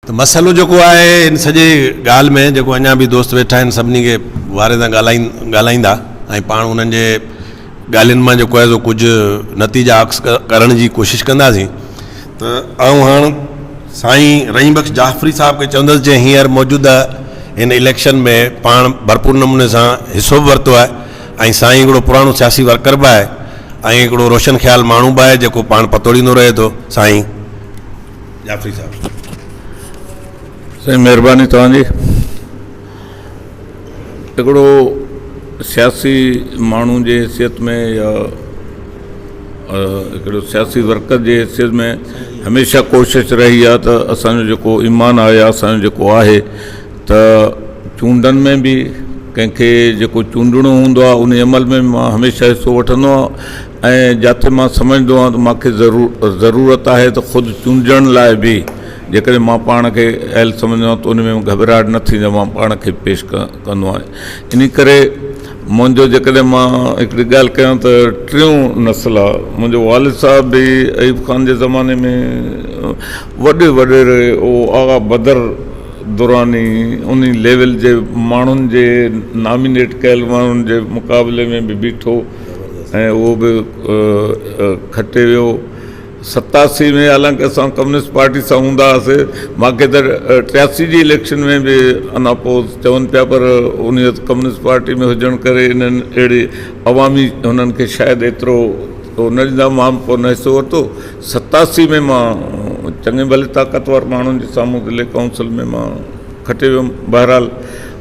ته مسئلو جيڪو آهي ان سڄي ڳالهه ۾ جيڪو اڃا به دوست ويٺا آهن سڀني کي واري سان ڳالهائيندا ۽ پاڻ انهن جي ڳالهين مان جيڪو آهي سو ڪجهه نتيجا اخذ ڪرڻ جي ڪوشش ڪنداسين ته آئون هاڻ سائين رحيم بخش جعفري صاحب کي چوندس جنهن هينئر موجوده هن اليڪشن ۾ پاڻ ڀرپور نموني سان حصو به ورتو آهي ۽ سائين هڪڙو پراڻو سياسي ورڪر به آهي ۽ هڪڙو روشن خيال ماڻهو به آهي جيڪو پاڻ پتوڙيندو رهي ٿو سائين جعفري صاحب سائين مهرباني توهان جي هڪڙو سياسي ماڻهو جي حيثيت ۾ يا هڪڙو سياسي ورڪر جي حيثيت ۾ هميشه ڪوشش رهي آهي ته اسانجو جيڪو ايمان آهي يا اسانجو جيڪو آهي ته چونڊن ۾ به ڪنهن کي جيڪو چونڊڻو هوندو آهي ان عمل ۾ به مان هميشه حصو وٺندو آهيان ۽ جاٿي مان سمجهندو آهيان ته مان کي ضرورت آهي ته خود چونڊجڻ لاء به جيڪڏهن مان پاڻ کي اهل سمجهندو آهيان ته ان ۾ گهٻراهٽ نه ٿيندي مان پاڻ کي پيش ڪندو آهيان ان ڪري منهنجو جيڪڏهن مان هڪڙي ڳالهه ڪيان ته ٽيون نسل آهي منهنجو والد صاحب به ايوب خان جي زماني ۾ وڏي وڏيري هو آغا بدر دراني ان ليول جي ماڻهن جي نامينيٽ ڪيل ماڻهن جي مقابلي ۾ به بيٺو ۽ اهو به کٽي ويو ستاسي ۾ حالانڪه اسان ڪميونسٽ پارٽي سان هوندا هئاسي ماکي ته ٽياسي جي اليڪشن ۾ به ان اپوز چون پيا پر ان ڪميونسٽ پارٽي ۾ هجڻ ڪري انهن اهڙي عوامي انهن کي شايد ايترو هو نه ڏيندا مان به ڪونه حصو ورتو ستاسي ۾ مان چڱي ڀلي طاقتور ماڻهن جي سامهون ضلعي ڪائونسل ۾ مان کٽي ويم بهرحال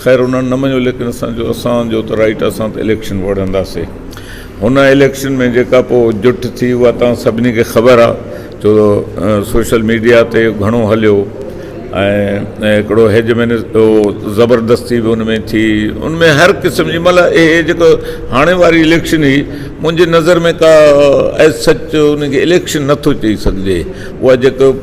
خير انهن نه مڃيو ليڪن اسان جو اسان جو ته رائيٽ اسان ته اليڪشن وڙهنداسي هن اليڪشن ۾ جيڪا پو جٺ ٿي اها توهان سڀني کي خبر آ جو سوشل ميڊيا تي گهڻو هليو ۽ هڪڙو هيج مين زبردستي به ان ۾ ٿي ان ۾ هر قسم جي مل اهي جيڪو هاڻي واري اليڪشن هي منهنجي نظر ۾ ڪا ايز سچ ان کي اليڪشن نٿو چئي سگهجي اها جيڪو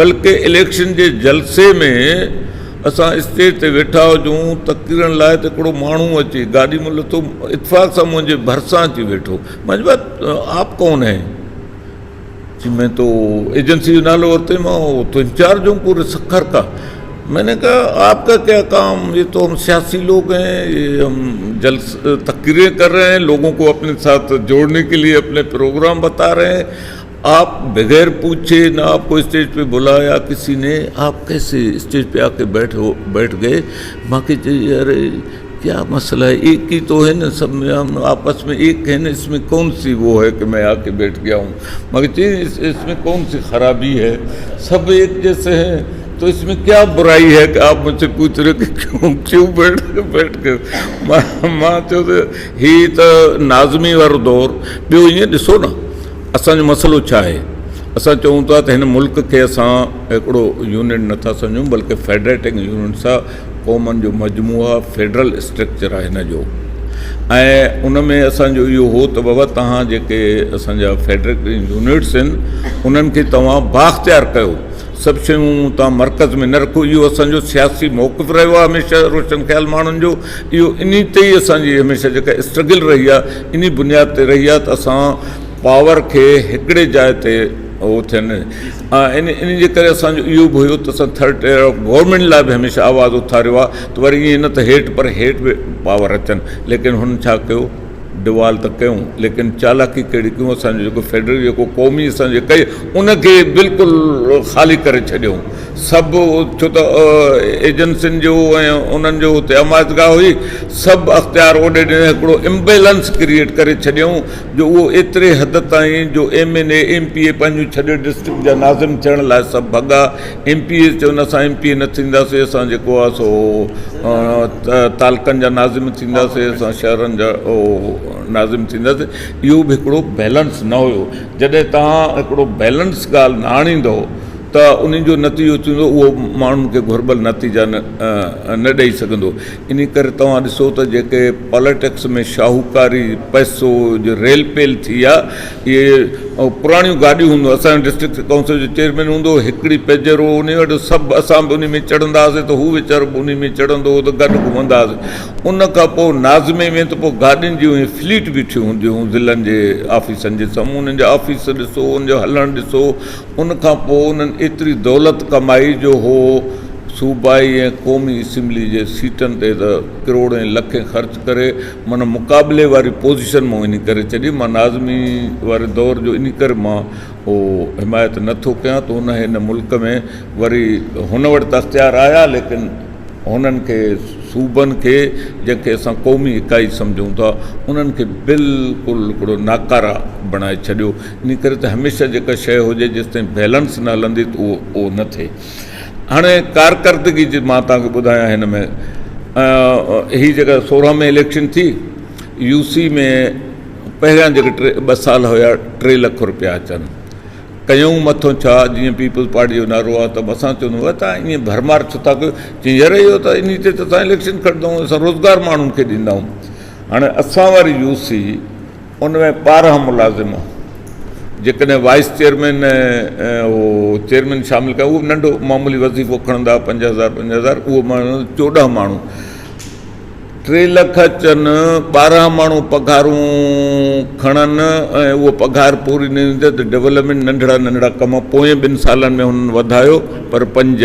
بلڪ اليڪشن جي جلسي ۾ اسان اسٽيج تي ويٺا هجون تقريرن لاء ته هڪڙو ماڻهو اچي گاڏي مان لٿو اتفاق سان منهنجي ڀرسان اچي ويٺو مان چيو ڀاء آپ ڪون هي چي مين تو ايجنسي جو نالو ورتو مان تو انچارج هون پوري سکر ڪا مين ني ڪها آپ ڪا ڪيا ڪام هي تو هم سياسي لوگ هي هم جلس تقرير ڪر رهي هي لوگون ڪو اپني ساٿ جوڙني ڪي ليي اپني پروگرام بتا رهي هي آپ بغير پوڇي نه آپ ڪو اسٽيج پي بلايا ڪسي ني آپ ڪيسي اسٽيج پي آڪي بيٺ هو بيٺ گئي مان کي چئي اري ڪيا مسلا هي ايڪ هي تو هي نه سڀ ميان آپس ۾ ايڪ هي نه اس مي ڪون سي وو هي ڪي مين آڪي بيٺ گيا هون مان کي چئي اس مي ڪون سي خرابي هي سڀ ايڪ جيسي هي تو اس مي ڪيا برائي هي ڪي آپ مون سي پوڇ رهي هو ڪي ڪيون بيٺ بيٺ گئي مان چيو ته هي ته ناظمي وارو دور ٻيو ائين ڏسو نه اسان جو مسئلو ڇا آهي؟ اسان چئون ٿا ته هن ملڪ کي اسان هڪڙو يونٽ نه ٿا سمجهون بلڪه فيڊريٽنگ يونٽ سئا قومن جو مجموعو آهي، فيڊرل اسٽرڪچر آهي هن جو ۽ ان ۾ اسان جو اهو هو ته بابا توهان جيڪي اسان جا فيڊريٽنگ يونٽس آهن انهن کي توهان بااختيار ڪيو، سڀ شيون توهان مرڪز ۾ نه رکو، اهو اسان جو سياسي موقف رهيو آهي هميشه روشن خيال ماڻهن جو اهو انهي تي ئي اسان جي هميشه جيڪا اسٽرگل رهي آهي. انهي بنياد تي رهي آهي ته اسان پاور کي هڪڙي جاء تي اهو ٿين ۽ انهي جي ڪري اسان جو اهو به هيو ته اسان ٿرڊ ٽيئر آف گورنمينٽ لاء به هميشه آواز اٿاريو آهي ته وري ائين نه ته هيٺ پر هيٺ به پاور اچن ليڪن هن ڇا ڪيو ڊوال ته ڪيون ليڪن چالاڪي ڪهڙي ڪيون اسان جو جيڪو فيڊرل جيڪو قومي اسان جي ڪئي ان کي بلڪل خالي ڪري ڇڏيون سڀ ڇو ته ايجنسين جو ۽ انهن جو اتي امايتگاهه هئي، سڀ اختيار اوڏي ڏني هڪڙو امبيلنس ڪريئيٽ ڪري ڇڏيائون جو اهو ايتري حد تائين جو M N A M P A پنهنجون ڇڏي ڊسٽرڪٽ جا ناظم ٿيڻ لاء سڀ ڀڳا ايم پي اي چون اسان ايم پي اي نه ٿينداسين اسان جيڪو آهي سو تعلقن جا ناظم ٿينداسين اسان شهرن جا ناظم ٿينداسين اهو به هڪڙو بيلنس نه هيو جڏهن تهان هڪڙو بيلنس ڳالهه نه آڻيندو ته انهن جو نتيجو ٿيندو اهو ماڻهن کي گهربل نتيجا نه ڏئي سگهندو انهي ڪري توهان ڏسو ته جيڪي پاليٽڪس ۾ شاهوڪاري پئسو جو ريل پيل ٿي آ اهي پراڻيون گاڏيون هوندو اسان جو ڊسٽرڪٽ ڪائونسل جو چيئرمين هوندو هڪڙي پيجرو انهي وٽ سڀ اسان به انهي ۾ چڙهندا هئاسي ته هو ويچارو به انهي ۾ چڙهندو هو ته گڏ گهمندا هئاسي ان کان پوء ناظمي ۾ ته پوء گاڏين جون اهي فليٽ بيٺيون هونديون هيون ضلعن جي آفيسن جي سامهون انهن جا آفيس ڏسو انهن جو هلڻ ڏسو ان کان پوء انهن ايتري دولت ڪمائي جو هو صوبائي ۽ قومي اسيمبلي جي سيٽن تي ته ڪروڙين لکين خرچ ڪري معنيٰ مقابلي واري پوزيشن مون انهي ڪري ڇڏي مان ناظمي واري دور جو انهي ڪري مان اهو حمايت نه ٿو ڪيان ته انهي هن ملڪ ۾ وري هن وٽ ته اختيار آيا ليڪن هنن کي صوبن کي جنهن کي اسان قومي اڪائي سمجهون ٿا انهن کي بلڪل هڪڙو ناڪاره بڻائي ڇڏيو ان ڪري ته هميشه جيڪا شيء هجي جيستائين بيلنس نه هلندي ته اهو اهو نه ٿئي. هاڻي ڪارڪردگي جي مان توهان کي ٻڌايان هن ۾ هي جيڪا سورهن ۾ اليڪشن ٿي يو سي ۾ پهريان جيڪي ٽي ٻه سال هيا ٽي لک روپيا اچن ڪيون مٿو ڇا جيئن پيپلز پارٽي جو نعرو آهي ته اسان چوندو هو تان ائين ڀرمار ڇو ٿا ڪيو چي يار اهو ته ان تي ته اسان اليڪشن کٽندو اسان روزگار ماڻهن کي ڏيندائون هاڻي اسان واري يو سي ان ۾ ٻارهن ملازم هئا. جيڪڏهن وائيس چيئرمين ۽ چيئرمين شامل ڪيا اهو ننڍو معمولي وظيفو کڻندا هئا پنج هزار پنج هزار اهو ماڻهو چوڏهن ماڻهو ٽي لک اچن ٻارهن ماڻهو پگهارون کڻن ۽ اهو پگهار پوري نه ٿيندي ته ڊولپمينٽ ننڍڙا ننڍڙا ڪم پوئين ٻن سالن ۾ هنن وڌايو پر پنج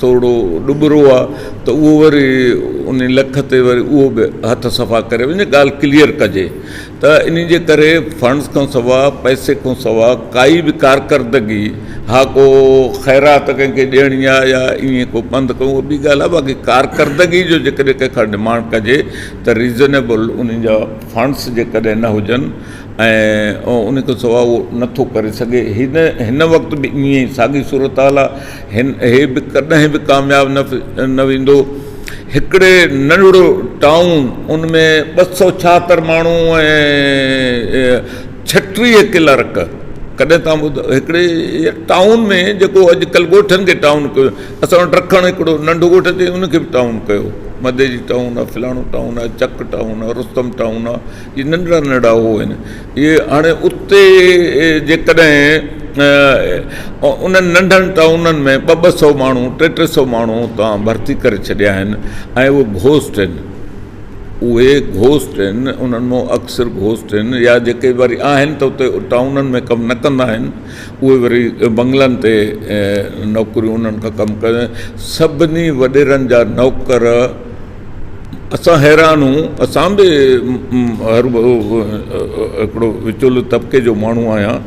ٿورڙو ڏٻرو آ ته اهو وري ان لک تي وري اهو به هٿ صفا ڪري وڃي ڳالهه ڪليئر ڪجي ته انهي جي ڪري فنڊز کان سوا پئسي کان سوا ڪائي به ڪارڪردگي ها ڪو خيرات ڪنهن کي ڏيڻي آ يا ائين ڪو پنڌ ڪيون اهو ٻي ڳالهه آ باقي ڪارڪردگي جو جيڪڏهن ڪنهن کان ڊمانڊ ڪجي ته ريزنيبل انهي جا فنڊز جيڪڏهن نه هجن ۽ ان کان سواء اهو نه ٿو ڪري سگهي. هن وقت به ائين ئي ساڳي صورتحال آ. هي به ڪڏهن به ڪامياب نه ويندو. هڪڙي ننڍڙو ٽائون ان ۾ ٻه سؤ ڇاهتر ماڻهو ۽ ڇٽيهه ڪلارڪ ڪڏهن تان ٻڌو هڪڙي ٽائون ۾ جيڪو اڄ ڪلهه ڳوٺن کي ٽائون ڪيو اسان وٽ رکڻ هڪڙو ننڍو ڳوٺ اٿي ان کي به ٽائون ڪيو مدي جي ٽائون آ فلاڻو ٽائون آ چڪ ٽائون آ رستم ٽائون آ. جي ننڍڙا ننڍڙا هو هن جي هاڻي اتي جيڪڏهن انهن ننڍن ٽائونن ۾ ٻه ٻه سو ماڻهو ٽي ٽي سو ماڻهو اتان ڀرتي ڪري ڇڏيا آهن ۽ اهي گهوسٽ آهن اهي گهوسٽ آهن انهن مون اڪثر گهوسٽ آهن يا جيڪي وري آهن ته اتي ٽائونن ۾ ڪم نه ڪندا آهن اهي وري بنگلن تي نوڪريون انهن کان ڪم ڪري سڀني وڏيرن جا نوڪر اسان حيران هون اسان به هڪڙو وچولو طبقي جو ماڻهو آهيان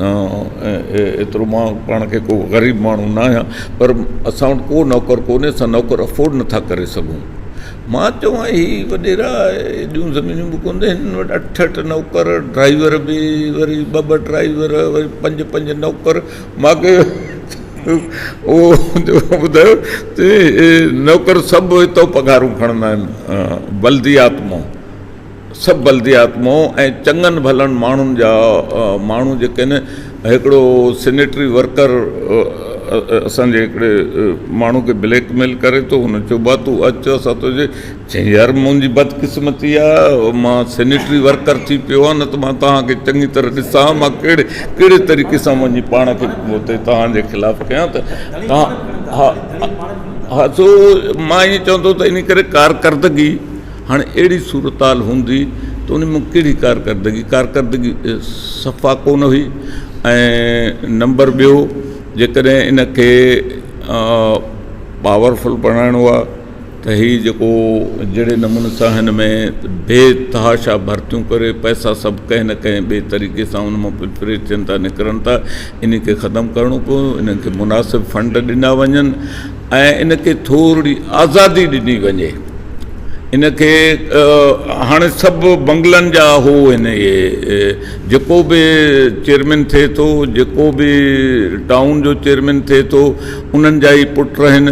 ايترو مان پاڻ کي ڪو غريب ماڻهو نه آهيان پر اسان وٽ ڪو نوڪر ڪونهي اسان نوڪر افورڊ نٿا ڪري سگهون مان چواين هي وڏيرا ايڏيون زمينون به ڪونهي هن وٽ اٺ اٺ نوڪر ڊرائيور به وري ٻه ٻه ڊرائيور وري پنج پنج نوڪر مان کي اهو ٻڌايو ته نوڪر سڀ هتو پگهارون کڻندا آهن بلديات مئو سڀ بلديات مئو ۽ چڱن ڀلن ماڻهن جا ماڻهو جيڪي آهن هڪڙو سنيٽري ورڪر اسان جي هڪڙي ماڻهو کي بليڪ ميل ڪري ٿو هن چيو ڀا تون اچ اسان تنهنجي چيائين، يار منهنجي بدقسمتي آ، مان سينيٽري ورڪر ٿي پيو آهيان، نه ته مان توهان کي چڱي طرح ڏسان ها، مان ڪهڙي ڪهڙي طريقي سان وڃي پاڻ کي اتي توهان جي خلاف ڪيان ته توهان ها ها سو مان ائين چوان ٿو ته انهي ڪري ڪارڪردگي هاڻي اهڙي صورتحال هوندي ته انهي مان ڪهڙي ڪارڪردگي ڪارڪردگي صفا ڪونه هئي ۽ نمبر ٻيو جيڪڏهن ان کي پاورفل بڻائڻو آ ته هي جيڪو جهڙي نموني سان هن ۾ بي تحاشا ڀرتيون ڪري پئسا سڀ ڪنهن نه ڪنهن ٻئي طريقي سان ان مان پلفريٽ ٿين ٿا نڪرن ٿا انهي کي ختم ڪرڻو پوندو انهن کي مناسب فنڊ ڏنا وڃن ۽ ان کي ٿورڙي آزادي ڏني وڃي ان کي هاڻي سڀ بنگلن جا هو آهن اهي جيڪو به چيئرمين ٿئي ٿو جيڪو به ٽائون جو چيئرمين ٿئي ٿو انهن جا ئي پٽ آهن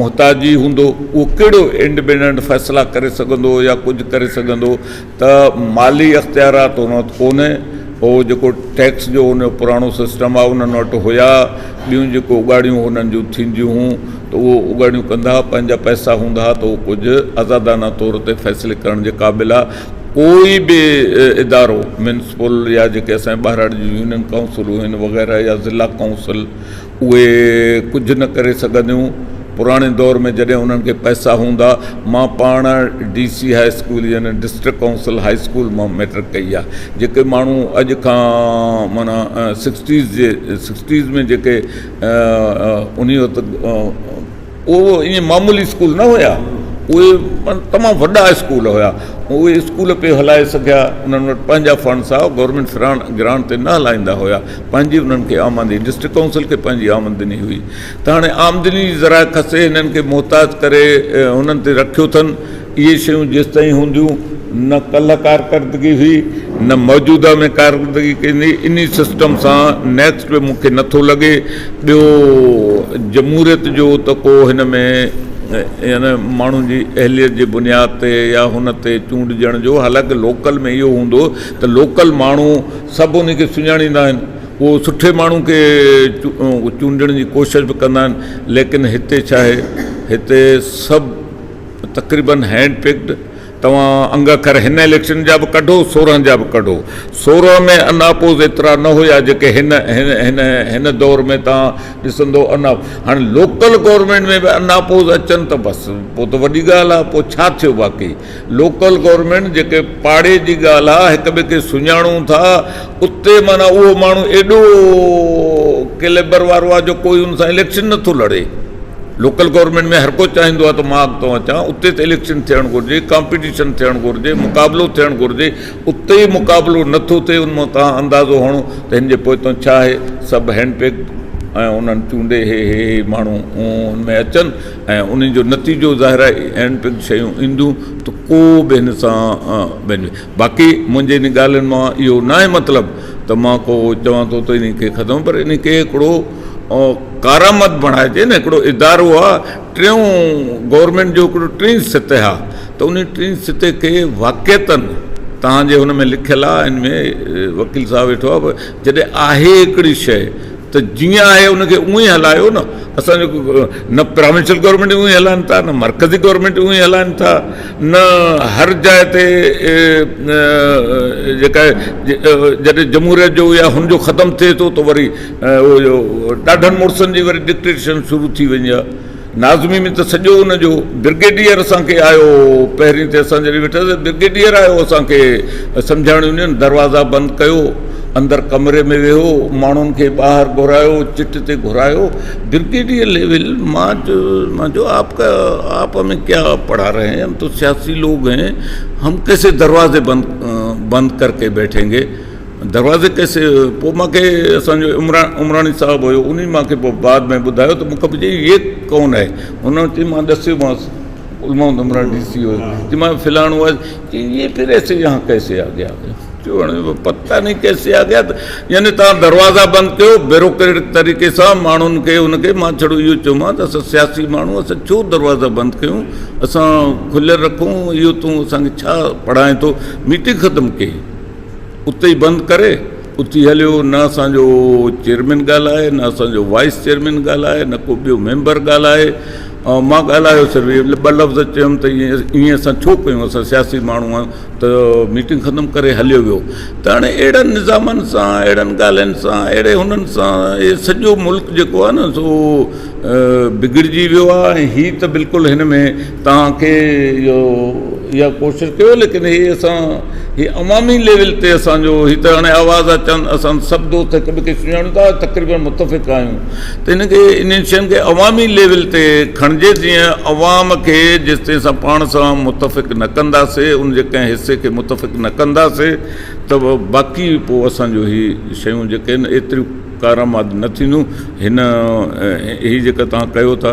محتاجي هوندو اهو ڪهڙو انڊپينڊنٽ فيصلا ڪري سگهندو يا ڪجهه ڪري سگهندو ته مالي اختيارات هن وٽ ڪونهي هو جيڪو ٽيڪس جو هن جو پراڻو سسٽم آهي انهن وٽ هيا ٻيون جيڪو اگهاڙيون هنن جون ٿينديون هون ته اهو اگهاڙيون ڪندا پنهنجا پئسا هوندا ته اهو ڪجهه آزادانه طور تي فيصلي ڪرڻ جي قابل آهي ڪوئي به ادارو ميونسپل يا جيڪي اسان ٻاهراڙي جون يونين ڪائونسلون آهن وغيره يا ضلع ڪائونسل اهي ڪجهه نه ڪري سگهنديون. پراڻي دور ۾ جڏهن انهن کي پئسا هوندا. مان پاڻ ڊي سي هاء اسڪول يعني ڊسٽرڪٽ ڪائونسل هاء اسڪول مان مئٽرڪ ڪئي آهي. جيڪي ماڻهو اڄ کان معنيٰ سڪسٽيز جي سڪسٽيز ۾ جيڪي انهي وقت اهي ائين معمولي اسڪول نه هيا، اهي تمام وڏا اسڪول هيا. اهي اسڪول پئي هلائي سگهيا، انهن وٽ پنهنجا فنڊز هئا، گورنمينٽ گرانٽ تي نه هلائيندا هيا، پنهنجي انهن کي آمدني، ڊسٽرڪٽ ڪائونسل کي پنهنجي آمدني هئي ته هاڻي آمدني جي ذرائع کسي هنن کي محتاج ڪري هنن تي رکيو اٿن. اهي شيون جيستائين هونديون نه ڪلهه ڪارڪردگي هئي نه موجوده ۾ ڪارڪردگي ڪيندي انهي سسٽم سان نيڪسٽ به مونکي نٿو لڳي ٻيو جمهوريت جو ته ڪو هن ۾ يعني ماڻهن جي اهليت جي بنياد تي يا هن تي چونڊجڻ جو حالانڪه لوڪل ۾ اهو هوندو ته لوڪل ماڻهو سڀ انهي کي سڃاڻيندا آهن هو سٺي ماڻهو کي چونڊڻ جي ڪوشش به ڪندا آهن ليڪن هتي ڇا آهي هتي سڀ تقريبن هينڊ پڪڊ توهان انگ اکر هن اليڪشن جا به ڪڍو سورهن جا به ڪڍو سورهن ۾ ان اپوز ايترا نه هيا جيڪي هن هن هن دور ۾ توهان ڏسندو ان هاڻي لوڪل گورنمينٽ ۾ به ان اپوز اچن ته بس پوء ته وڏي ڳالهه آهي پوء ڇا ٿيو باقي لوڪل گورنمينٽ جيڪي پاڙي جي ڳالهه آهي هڪ ٻئي کي سڃاڻون ٿا اتي معنيٰ اهو ماڻهو ايڏو ڪيليبر وارو آهي جو ڪوئي ان سان اليڪشن نٿو لڙي لوڪل گورنمينٽ ۾ هر ڪو چاهيندو آهي ته مان اڳتو اچان اتي ته اليڪشن ٿيڻ گهرجي ڪامپيٽيشن ٿيڻ گهرجي مقابلو ٿيڻ گهرجي اتي ئي مقابلو نٿو ٿئي ان مان توهان اندازو هڻو ته هن جي پوئتو ڇا آهي سڀ هينڊ پيڪ ۽ انهن چونڊي هي هي هي ماڻهو ان ۾ اچن ۽ انهن جو نتيجو ظاهر آهي هينڊ پيڪ شيون اينديون ته ڪو به هن سان باقي منهنجي انهن ڳالهين مان اهو ناهي مطلب ته مان ڪو چوان ٿو ته انهي کي ختم پر انهي کي هڪڙو ڪارآمد بڻائجي نه هڪڙو ادارو آ ٽيون گورنمينٽ جو هڪڙو ٽين سطح آ ته انهي ٽين سطح کي واقعتا توهان جي هن ۾ لکيل آ ان ۾ وڪيل صاحب ويٺو آ جڏهن آهي هڪڙي شيء ته جيئن آهي ان کي اونهي هلايو نه اسان جو نه پرائونشل گورنمينٽ اونهي هلائن ٿا نه مرڪزي گورنمينٽ اونهي هلائن ٿا نه هر جاء تي جيڪا جڏهن جمهوريت جو يا هن جو ختم ٿئي ٿو ته وري ڏاڍن مڙسن جي وري ڊڪٽيشن شروع ٿي وڃي ها ناظمي ۾ ته سڄو ان جو برگيڊيئر اسان کي آيو پهرين تي اسان جڏهن ويٺا برگيڊيئر آيو اسان کي سمجهاڻ يونين دروازا بند ڪيو اندر ڪمري ۾ ويهو ماڻهن کي ٻاهر گهرايو چٽ تي گهرايو برگيڊيئر ليول مان جو آپ ڪا آپ ھمي ڪيا پڙھا رھي ھين ھم تو سياسي لوگ ھين ھم ڪيسي دروازي بند بند ڪر ڪي بيٺين گي دروازي ڪيسي پوء مان کي اسان جو عمرا عمراڻي صاحب ھيو انھي مان کي پوء بعد ۾ ٻڌايو ته مون کان پڇيائين ھي ڪون ھي ھن چيم مان ڏسيو مانس علماء عمرا ڊي سي ھيو چيم مان فلاڻو چي يي پھر ايسي يھان ڪيسي آگيا چوڻ جو پتا نھي ڪيسي آگيا يعني توھان دروازا بند ڪيو بيروڪريٽڪ طريقي سان ماڻھن کي ان کي مان ڇڙو اھو چومان ته اسان سياسي ماڻھو اسان ڇو دروازا بند ڪيون اسان کليل رکون اھو تون اسان کي ڇا پڙھائين ٿو ميٽنگ ختم ڪي اتي ئي بند ڪري اٿي هليو، نه اسان جو چيئرمين ڳالهائي، نه اسان جو وائيس چيئرمين ڳالهائي، نه ڪو ٻيو ميمبر ڳالهائي، مان ڳالهايو صرف اهي ٻه لفظ چيم ته ائين اسان ڇو ڪيون، اسان سياسي ماڻهو آهيون ته ميٽنگ ختم ڪري هليو ويو ته هاڻي اهڙن نظامن سان اهڙن ڳالهين سان اهڙي هنن سان اهي سڄو ملڪ جيڪو آهي نه سو بگڙجي ويو آهي ۽ هي ته بلڪل هن ۾ توهان کي اهو اها ڪوشش ڪيو ليڪن هي اسان هي عوامي ليول تي اسان جو هي ته هاڻي آواز آ چند اسان سڀ دوست هڪ ٻئي کي سڃاڻو ٿا تقريبن متفق آهيون ته هن کي انهن شين کي عوامي ليول تي کڻجي جيئن عوام کي جيستائين اسان پاڻ سان متفق نه ڪنداسي ان جي ڪنهن حصي کي متفق نه ڪنداسي ته باقي پو اسان جو هي شيون جيڪي ان ايتريون ڪارآمد نه ٿينديون هن هي جيڪا توهان ڪيو ٿا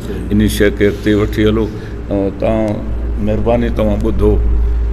انهي شيء کي اڳتي وٺي هلو ۽ اتان مهرباني توهان ٻڌو.